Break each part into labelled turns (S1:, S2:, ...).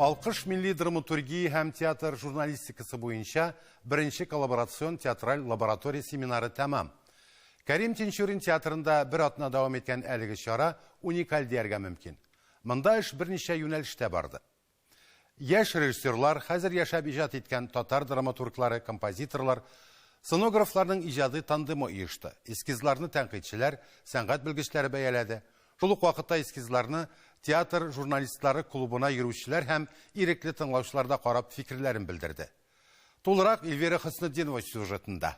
S1: Алкыш милли драматургия һәм театр журналистикасы буенча беренче коллаборацион театраль лаборатория семинары тәмам. Кәрим Тинчурин театрында бер атна дәвам иткән әлеге чара уникаль дияргә мөмкин. Монда эш берничә юнәлештә барды. Яшь режиссерлар, хәзер яшәп иҗат иткән татар драматурглары, композиторлар, сценографларның иҗади тандемы оешты. Эскизларны тәнкыйтьчеләр, сәнгать белгечләре бәяләде. Шул ук вакытта эскизларны театр журналистлары клубына йөрүчеләр һәм ирекле тыңлаучылар да карап фикерләрен белдерде. Тулырак Эльвира Хөснетдинова сюжетында.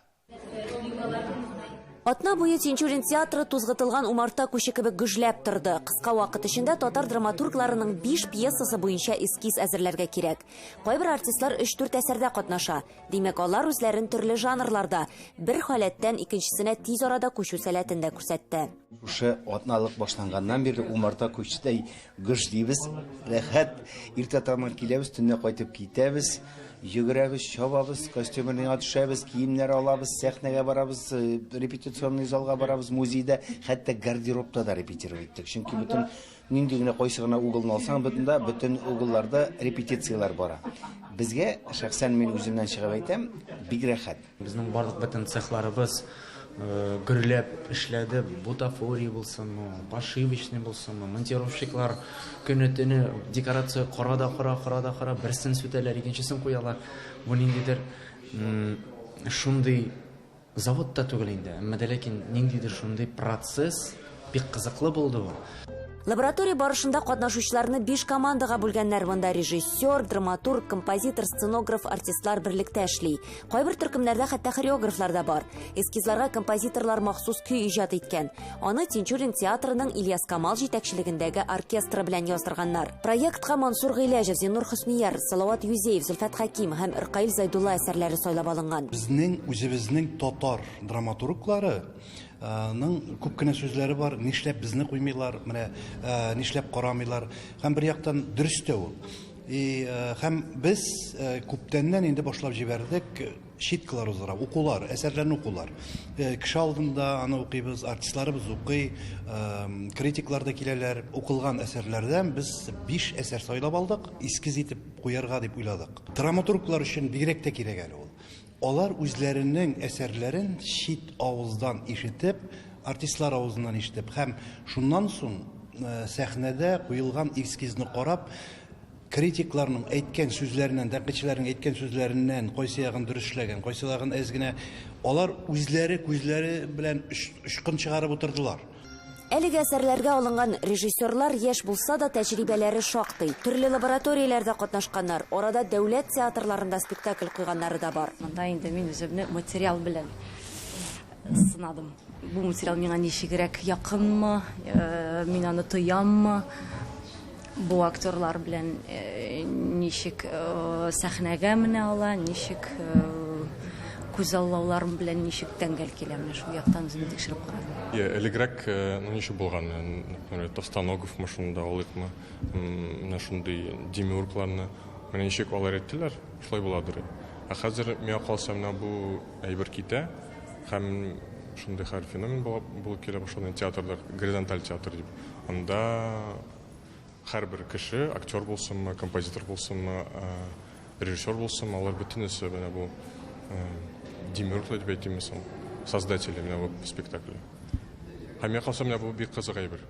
S2: Атна буе Тинчурин театры тузгытылган умарта күче кебек гөжләп торды. Кыска вакыт эчендә татар драматургларының биш пьесасы буенча эскиз әзерләргә кирәк. Кайбер артистлар өч-дүрт әсәрдә катнаша. Димәк, алар үзләрен төрле жанрларда, бер халәттән икенчесенә тиз арада күчү сәләтен дә күрсәтте. Шушы атналык
S3: башланганнан бирле умарта күчтәй гөж дибез, рәхәт. Иртә таңнан киләбез, төнлә кайтып китәбез. Йөгерәбез, чабабыз, костюмнар яңа төшәбез, киемнәр алабыз, сәхнәгә барабыз, репетиционный залга барабыз, музейда, хәтта гардеробта да репетировать иттек. Чөнки бөтен нинди генә кайсы гына угылны алсаң, бөтендә бөтен угылларда репетицияләр бара. Безгә, шәхсән мин үземнән чыгып әйтәм, бик рәхәт. Безнең барлык бөтен
S4: цехларыбыз гөрләп эшләде. Бутафория булсынмы, пошивочный булсынмы, монтировщиклар көне-төне декорация кора да кора, кора да кора, берсен сүтәләр, икенчесен куялар. Бу ниндидер шундый завод та түгел инде, әмма дә ләкин ниндидер шундый процесс, Бик кызыклы булды бу. Лаборатория
S2: барышында катнашучыларны биш командага бүлгәннәр, монда режиссер, драматург, композитор, сценограф, артистлар берлектә эшли. Кайбер төркемнәрдә хәтта хореографлар да бар. Эскизларга композиторлар махсус көй иҗат иткән. Аны Тинчурин театрының Ильяс Камал җитәкчелегендәге оркестры белән яздырганнар. Проектка Мансур Гыйләҗев, Зиннур Хөснияр, Салават Юзеев, Зөлфәт Хәким һәм Ркаил Зайдулла әсәрләре сайлап алынган. Безнең үзебезнең
S5: татар драматурглары ның күп кенә сүзләре бар, нишләп безне куймыйлар, менә нишләп карамыйлар. Һәм бер яктан дөрес тә ул. И һәм без күптәннән инде башлап җибәрдек читкалар узара, укулар, әсәрләрне укулар. Кеше алдында аны укыйбыз, артистларыбыз укый, критиклар да киләләр. Укылган әсәрләрдән без биш әсәр сайлап алдык, эскиз итеп куярга дип уйладык. Драматурглар өчен бигрәк тә кирәк әле ул. Алар үзләренең әсәрләрен чит авыздан ишетеп, артистлар авызыннан ишетеп һәм шуннан соң сәхнәдә куелган эскизны карап, критикларның әйткән сүзләреннән, тәнкыйтьчеләрнең әйткән сүзләреннән кайсы ягын дөрес эшләгән, кайсы ягын әз генә, алар үзләре күзләре белән очкын чыгарып утырдылар. Әлеге
S2: әсәрләргә алынган режиссерлар яшь булса да, тәҗрибәләре шактый. Төрле лабораторияләрдә катнашканнар, арада дәүләт театрларында спектакль куйганнары да бар. Монда инде мин үземне
S6: материал белән сынадым. Бу материал миңа ничегрәк якынмы, мин аны тояммы? Бу актерлар белән ничек сәхнәгә менә ала, ничек күзаллаулар белән ничек тәңгәл килә, менә шул яктан үземне тикшереп карадым. Я элегрәк, э,
S7: ну ничек булган, например, Товстоногов машинында алыйкмы, менә шундый демиургларны, менә ничек алар әйттеләр, шулай буладыр. Ә хәзер миңа калса менә бу әйбер китә, һәм шундый хәл феномен булып килә башлады театрда, горизонталь театр дип. Анда Һәрбер кеше, актер булсынмы, композитор булсынмы, режиссер булсынмы, алар бөтенесе менә бу демиурглар дип әйтимме соң, создатели менә бу спектакль. Һәм миңа калса, менә бу бик кызык әйбер.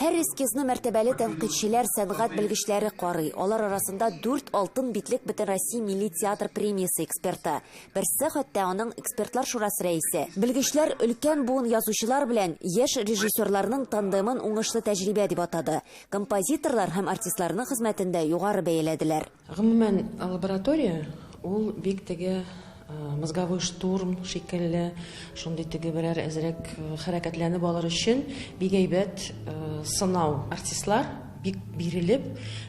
S7: Һәр
S2: эскизны мәртәбәле тәнкыйтьчеләр, сәнгать белгечләре карый. Алар арасында дүрт алтын битлек Бөтенроссия милли театр премиясе эксперты, Берсе, хәтта аның экспертлар шурасы рәисе. Белгечләр өлкән буын язучылар белән яшь режиссерларның тандемын уңышлы тәҗрибә дип атады. Композиторлар һәм артистларның хезмәтен дә югары бәяләделәр. Гомумән,
S8: лаборатория, ул бик теге мозговой штурм шикелле, шундый теге берәр әзрәк хәрәкәтләнеп алыр өчен бик әйбәт сынау. Артистлар бик бирелеп,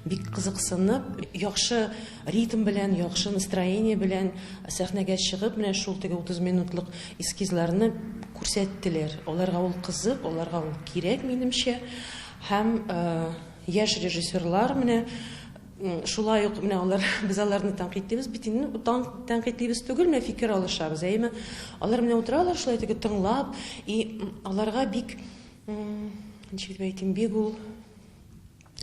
S8: бик кызыксынып, яхшы, Ритм белән, яхшы настроение белән сәхнәгә чыгып, менә шул теге 30 минутлык эскизларны күрсәттеләр. Аларга ул кызык, аларга ул кирәк, минемчә. Һәм яшь режиссерлар менә шулай ук менә алар без аларны тәнкыйтьлибез бит инде тан тәнкыйтьлибез түгел менә фикер алышабыз әйеме алар менә утыралар шулай теге тыңлап и аларга бик ничек дип әйтим бик ул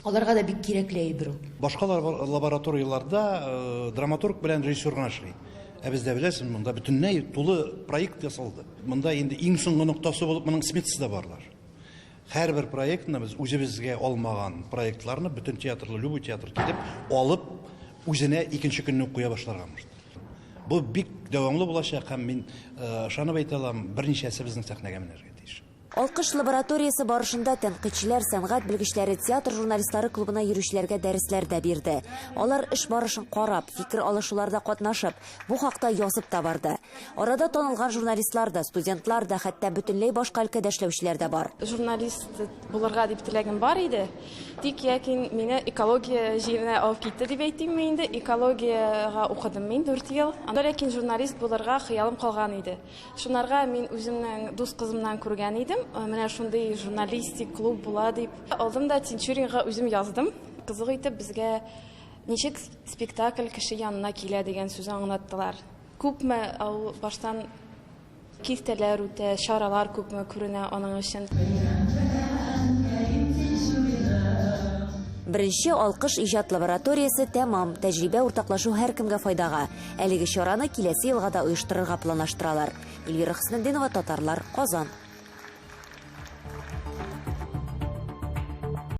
S8: Аларга да бик кирәкле әйбер ул. Башка
S5: лабораторияләрдә драматург белән режиссер гына эшли. Ә бездә беләсең, монда бөтенләй тулы проект ясалды. Монда инде иң соңгы ноктасы булып моның сметасы да барлар. Һәрбер проектны без үзебезгә алмаган проектларны бөтен театрлы, любой театр килеп, алып, үзенә икенче көнне куя башларга может. Бу бик дәвамлы булачак һәм мин ышанып әйтә алам, берничәсе безнең сәхнәгә менәргә тиеш. Алкыш лабораториясе
S2: барышында тәнкыйтьчеләр сәнгать белгечләре театр журналистлары клубына йөрүчеләргә дәресләр дә бирде. Алар эш барышын карап, фикер алышуларда катнашып, бу хакта язып та барды. Арада танылган журналистлар да, студентлар да, хәтта бөтенләй башка өлкәдә эшләүчеләр дә бар. Журналист
S9: булырга дип теләгем бар иде. Тик ләкин мине экология җиренә алып китте дип әйтимме инде, экологиягә укыдым мин дүрт ел. Анда ләкин журналист булырга хыялым калган иде. Шунарга мин үземнең дус кызымнан күргән идем. Менә шундый журналистик клуб була дип. Алдым да Тинчуринга үзем яздым. Кызык итеп безгә ничек спектакль кеше янына килә дигән сүз аңлаттылар. Күпме ул баштан киртәләр үтә, чаралар күпме күренә аның өчен.
S2: Беренче алкыш иҗат лабораториясе тәмам, тәҗрибә уртаклашу һәркемгә файдага. Әлеге чараны киләсе елга да оештырырга планлаштыралар. Эльвира Хөснетдинова, Татарлар, Казан.